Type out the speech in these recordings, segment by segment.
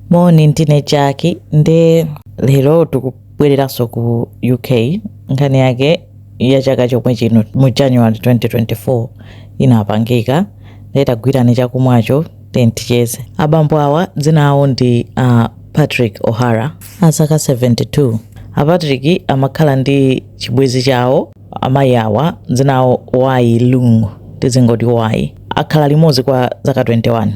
Moni ndine Jackie nde lero tikubwereranso ku UK nkhani yake ya chaka chomwe chino mu January 2024 inapangika nde tagwirani chakumwacho then ticheze abambo awa dzina awo ndi uh, Patrick O'Hara a zaka 72 a Patrick amakhala ndi chibwenzi chawo amayi awa dzina awo Wai Leung tizingoti Wai akhala limodzi kwa zaka 21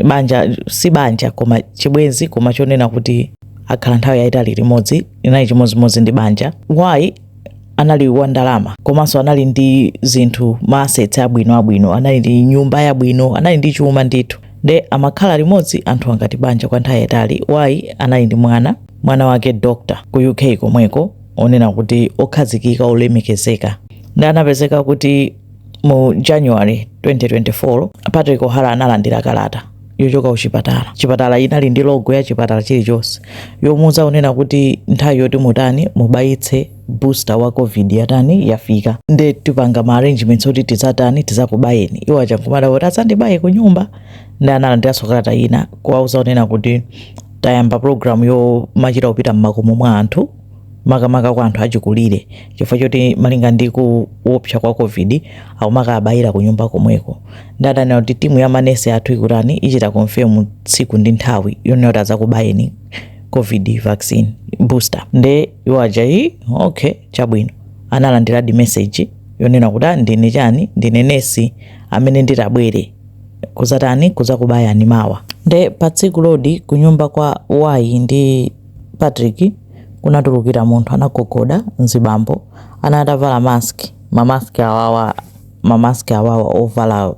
banja si banja koma chibwenzi koma chonena kuti akhala nthawi yayitali limodzi inali chimodzimodzi ndi banja Wai anali wa ndalama komanso anali ndi zinthu maasets abwino abwino anali ndi nyumba yabwino anali ndi chuma ndithu nde amakhala limodzi anthuwa ngati banja kwa nthawi yayitali Wai anali ndi mwana mwana wake doctor ku uk komweko onena kuti okhazikika olemekezeka nde anapezeka kuti Mu January 2024, Patrick O'Hara analandira kalata yochoka kuchipatala. Chipatala inali ndi logo ya chipatala chilichonse yomuuza kunena kuti nthawi yoti mutani mubayitse booster wa covid yatani yafika nde tipanga ma arrangements oti tizatani tizakubayeni iwo aja nkumadabwa kuti adzandibaye ku nyumba nde analandiranso kalata ina kuwauza kunena kuti tayamba program yomachita kupita mmakomo mwa anthu makamaka kwa anthu achikulire chifukwa choti malinga ndi kuopsa kwa covid akumakabayira ku nyumba komweko nde adanena kuti timu ya manesi athu ikutani ichita confirm tsiku ndi nthawi yonena kuti adzakubayeni covid vaccine booster nde iwo aja ayi okay chabwino analandiradi message yonena kuti "Ah, ndine chani ndine nesi amene nditabwere kuzatani kuzakubayani mawa nde pa tsikulodi kunyumba kwa Wai ndi Patrick, kunatulukira munthu anagogoda, mzibambo, anali atavala mask, ma mask awawa, ma mask awawa ovala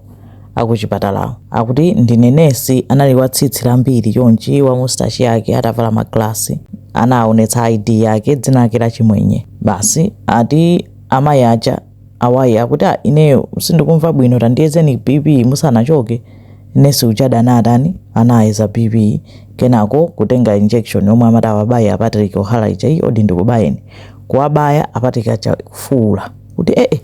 akuchipatalawo, akuti ndine nesi, anali wa tsitsi lambiri chonchi, wa mustache yake, atavala magalasi, anaonetsa ID yake, dzina lake la Chimwenye, basi, ati, amayi aja, a Wai akuti ah, ineyo sindikumva bwino tandiyezeni bp musanachoke nesi ujadi anatani anayeza bp kenako kutenga injection yomwe amati awabaye a Patrick O'Hara ija ayi odi ndikubayeni kuwabaya a Patrick aja kufuula kuti ee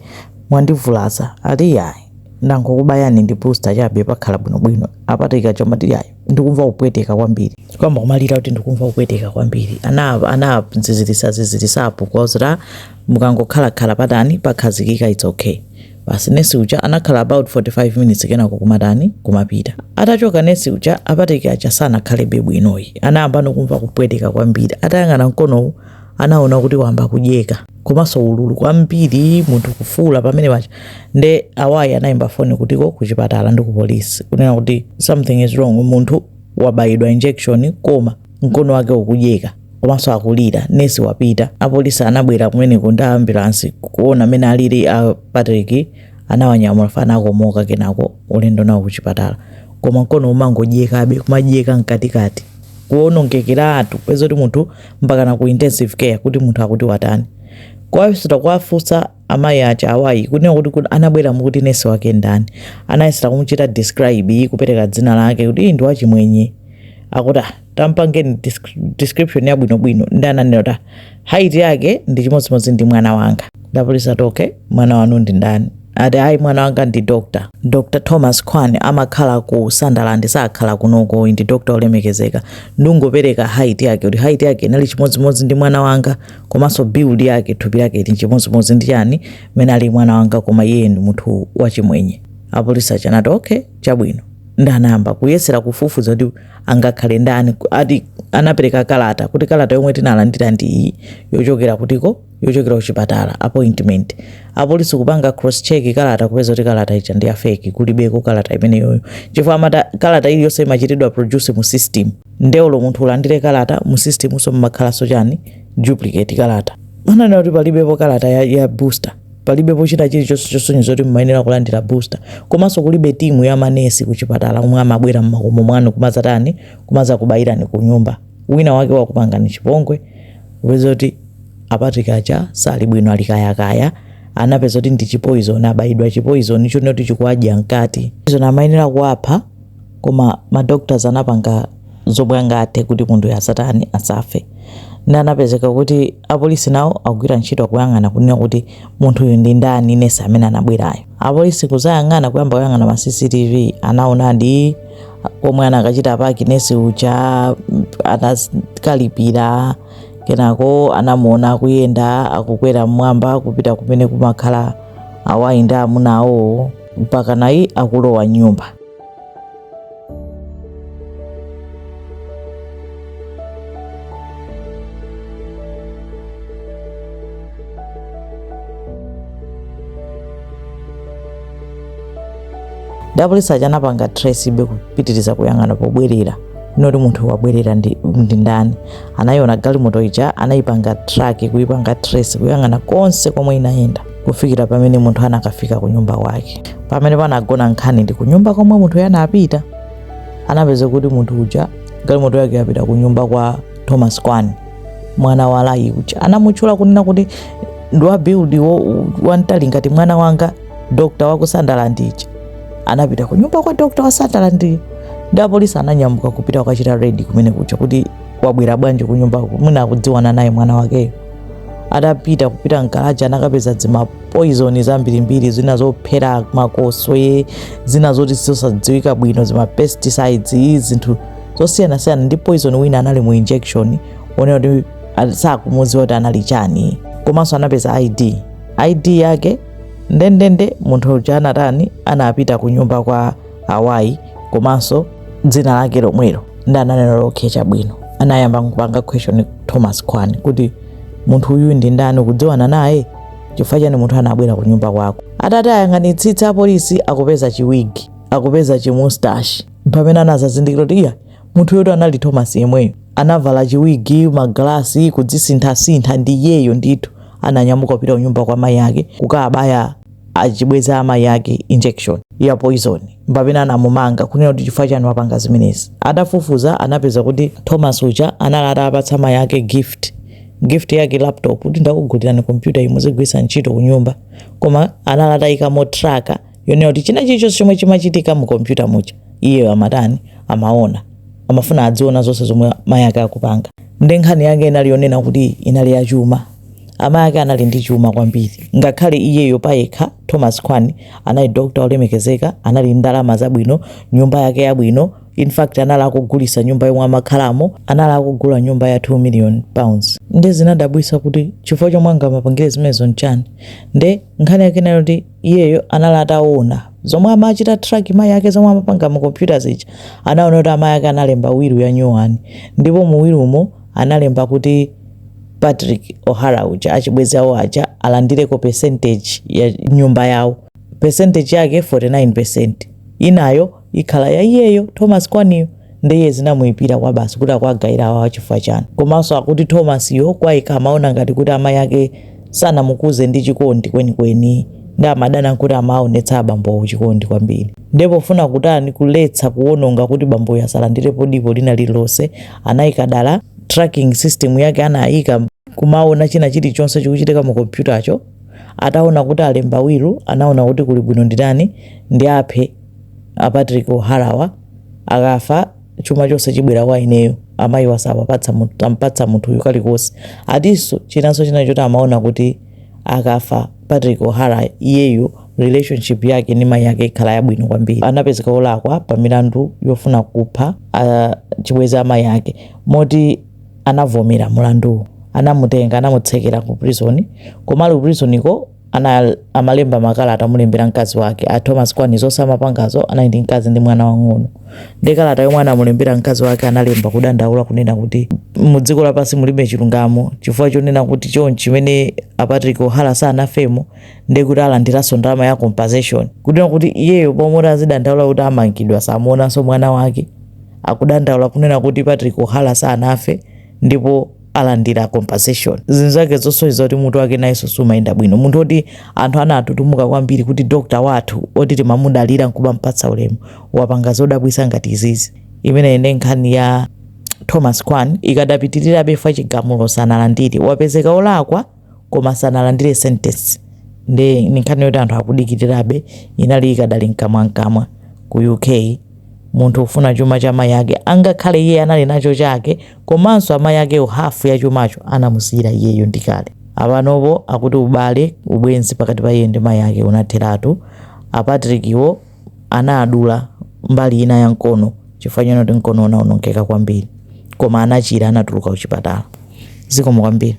mwandivulaza ati yayi ndangokubayani ndi booster chabe pakhala bwinobwino a Patrick aja amati yayi ndikumva kupweteka kwambiri kuyamba kumalira kuti ndikumva kupweteka kwambiri ana anazizirisa zizirisapo kuwauzira mukangokhalakhala patani pakhazikika it's okay basi nesi uja anakhala about 45 minutes kenako kumatani kumapita atachoka nesi uja a Patrick aja sanakhalebe bwino ayi anayamba ndi kumva kupweteka kwambiri atayang'ana mkonowu anaona kuti wamba kudyeka komanso ululu kwambiri munthu kufuula pamene pacha nde a Wai anayimba foni kutikoko kuchipatala ndi ku polisi kunena kuti something is wrong munthu wabayidwa injection koma mkono wake ukudyeka komanso akulira nesi wapita apolisi anabwera kumeneko ndi ambulansi kuona amene alili a patrick anawanyamula chifukwa anakomoka kenako ulendo nawo kuchipatala koma mkono umangodyekabe kumadyeka mkatikati kuonongekeratu kupezeka kuti munthu mpaka na ku intensive care kuti munthu akuti watani kuwayesera kuwafunsa amayi aja a Wai kunena kuti kuti anabwera mukuti nesi wake ndani anayesera kumuchita describe kupereka dzina lake kuti iye ndi wachimwenye akuti "Ah, tampangeni disc- description yabwinobwino nde ananena kuti "Ah, height yake ndi chimodzimodzi ndi mwana wanga nde apolisi akuti okay mwana wanu ndi ndani ati ayi mwana wanga ndi dr dr thomas kwan amakhala ku sunderland sakhala kunoko ndi doctor olemekezeka ndikungopereka height yake kuti height yake inali chimodzimodzi ndi mwana wanga komanso build yake thupi lake lili chimodzimodzi ndi chani mmene ali mwana wanga koma iye ndi munthu wachimwenye apolisi aja anati okay chabwino nde anayamba kuyesera kufufuza kuti angakhale ndani ati anapereka kalata kuti kalata yomwe tinalandira ndi iyi yochokera kutikoko yochokera kuchipatala appointment apolisi kupanga cross check kalata kupeza kuti kalata ija ndi ya fake kulibeko kalata imeneyoyo chifukwa amati kalata iliyonse imachitidwa produce mu system nde olo munthu ulandire kalata mu system so mmakhalaso chani duplicate kalata ananena kuti palibepo kalata ya, ya booster palibepo china chilichonse chosonyeza kuti mmayenera kulandira booster komanso kulibe timu ya manesi kuchipatala omwe amabwera mmakomo mwanu kumazatani kumazakubayirani ku nyumba wina wake wakupangani chipongwe kupeza kuti a Patrick aja sali bwino ali kayakaya anapeza kuti ndi chipoizoni abayidwa chipoizoni chonena kuti chikuwadya mkati izo zimayenera kuwapha koma ma doctors anapanga zomwe angathe kuti munthuyo asatani asafe nde anapezeka kuti apolisi nawo akugwira ntchito akuyang'ana kunena kuti munthuyu ndi ndani nesi amene anabwerayo apolisi kuzayang'ana kuyamba kuyang'ana ma cctv anaonadi komwe anakachita paki nesi uja anakalipira kenako anamuona akuyenda akukwera mmwamba kupita kumene kumakhala a Wai ndi amuna awowo mpaka naye akulowa nyumba apolisi aja anapanga tracebe kupitiriza kuyang'ana pobwerera kuti munthu wabwerera ndi, ndi ndani anayiona galimoto ija anayipanga track kuyipanga trace kuyang'ana konse komwe inayenda kufikira pamene munthu anakafika ku nyumba kwake. Pamene panagona nkhani ndi ku nyumba komwe munthu uyu anapita, anapeza kuti munthu uja galimoto yake yapita ku nyumba kwa Thomas Kwan, mwana wa Lai uja. Anamutchula kunena kuti ndi wa build wo- wamtali ngati mwana wake dokta wa ku Sunderland uja. Anapita ku nyumba kwa dokta wa Sunderland iyo. Ndi apolisi ananyamuka kupita kukachita raid kumene kuja kuti wabwera bwanji ku nyumba mwina akudziwana naye mwana wakeyo. atapita kupita mgaraji anakapeza dzimapoizoni zambirimbiri zina zophera makoswe zina zoti zosadziwika bwino zimapesticides zinthu zosiyanasiyana ndi poison wina anali mu injection oti ali- sakumudziwa kuti anali chani komanso anapeza id id yake ndendende munthu uja anatani anapita ku nyumba kwa awayi komanso dzina lake lomwelo ndi ananena lokhe chabwino anayamba kupanga question thomas kwan kuti munthu uyu ndi ndani kudziwana naye chifukwa chani munthu anabwera ku nyumba kwako atayang'anitsitsa apolisi akupeza chiwigi akupeza chimustashi mpamene anadzazindikira kuti iya munthuyotu anali thomas yemweyo anavala chiwigi magalasi kudzisinthasintha ndi iyeyo ndithu ananyamuka kupita kunyumba kwa mayi ake kukabaya achibwenzi a amayi ake injection ya poison mpamene anamumanga kunena kuti chifukwa chani wapanga zimenezi atafufuza anapeza kuti thomas uja anali atapatsa amayi ake gift gift yake laptop kuti ndakugulirani kompyuta iyi muzigwiritsa ntchito kunyumba koma anali atayikamo tracker yonena kuti china chilichonse chomwe chimachitika mu kompyuta muja iye amatani amaona amafuna adziona zonse zomwe mayi ake akupanga ndi nkhani yake inali yonena kuti inali yachuma Amayi ake anali ndi chuma kwambiri. Ngakhale iyeyo payekha, Thomas Kwan, anali doctor wolemekezeka, anali ndi ndalama zabwino, nyumba yake yabwino, in fact anali akugulitsa nyumba yomwe amakhalamo, anali akugula nyumba ya 2 million pounds. Nde zinadabwitsa kuti chifukwa chomwe angamapangire zimenezo nchani? Nde nkhani yake inali yoti iyeyo anali ataona zomwe amachita track mayi ake zomwe amapanga mu computer zija, anaona kuti amayi ake analemba will yanyuwani ndipo mu will mo analemba kuti Patrick O'Hara uja achibwenzi awo aja alandireko percentage ya nyumba yawo percentage yake 49% inayo ikhala ya iyeyo Thomas Kwan iyo ndiye zinamuyipira kwabasi kuti akuwagawira awa chifukwa chani komanso akuti Thomas yo kwa iye amaona ngati kuti amayi ake sanamukuze ndi chikondi kwenikweni ndi amadana nazo kuti amaonetsa abambowo chikondi kwambiri ndi pofuna kutani kuletsa kuononga kuti bamboyo asalandirepo dipo lina lililonse anaika dala tracking system yake anaika kumaona china chilichonse chikuchitika mu kompyutacho ataona kuti alemba wilu anaona kuti kuli bwino nditani ndi aphe a Patrick Oharawa akafa chuma chonse chibwera kwa ineyo amayi wa sawampatsa munthu uyu kalikonse atinso chinanso china choti amaona kuti akafa Patrick O'Hara iyeyo relationship yake ndi mayi ake ikhala yabwino kwambiri anapezeka olakwa pa milandu yofuna kupha chibwenzi cha mayi ake moti anavomera mulanduwu anamutenga anamutsekera ku prison koma ali ku prisoniko amalemba makalata amulembera mkazi wake a Thomas Kwan zonse amapangazo anali ndi mkazi ndi mwana wang'ono ndi kalata yomwe anamulembera mkazi wake analemba kudandaula kunena kuti mu dziko lapansi mulibe chilungamo chifukwa chonena kuti chonchi mmene a Patrick O'Hara sanafemo ndi kuti alandiranso ndalama ya compensation kunena kuti iyeyo pomwe azidandaula kuti amangidwa samuonanso mwana wake akudandaula kunena kuti Patrick O'Hara sanafe ndipo alandira compensation zinthu zake zosonyeza kuti mutu wake nayenso sumayenda bwino munthu oti anthu anatutumuka kwambiri kuti dokta wathu oti timamudalira nkumampatsa ulemu wapanga zodabwitsa ngati izizi imene ine nkhani ya thomas kwan ikadapitirirabe chifukwa chigamulo sanalandire wapezeka olakwa koma sanalandire sentence ndi nkhani yoti anthu akudikirirabe inali ikadali mkamwamkamwa ku uk munthu ofuna chuma cha mayi ake angakhale iye anali nacho chake komanso amayi akewo half ya chumacho anamusiyira iyeyo ndikale. Apa panopo akuti ubale, ubwenzi pakati pa iye ndi mayi ake unatheratu. A Patrick wo anawadula mbali ina ya mkono chifukwa chonena kuti mkono unaonongeka kwambiri. Koma anachira anatuluka kuchipatala. Zikomo kwambiri.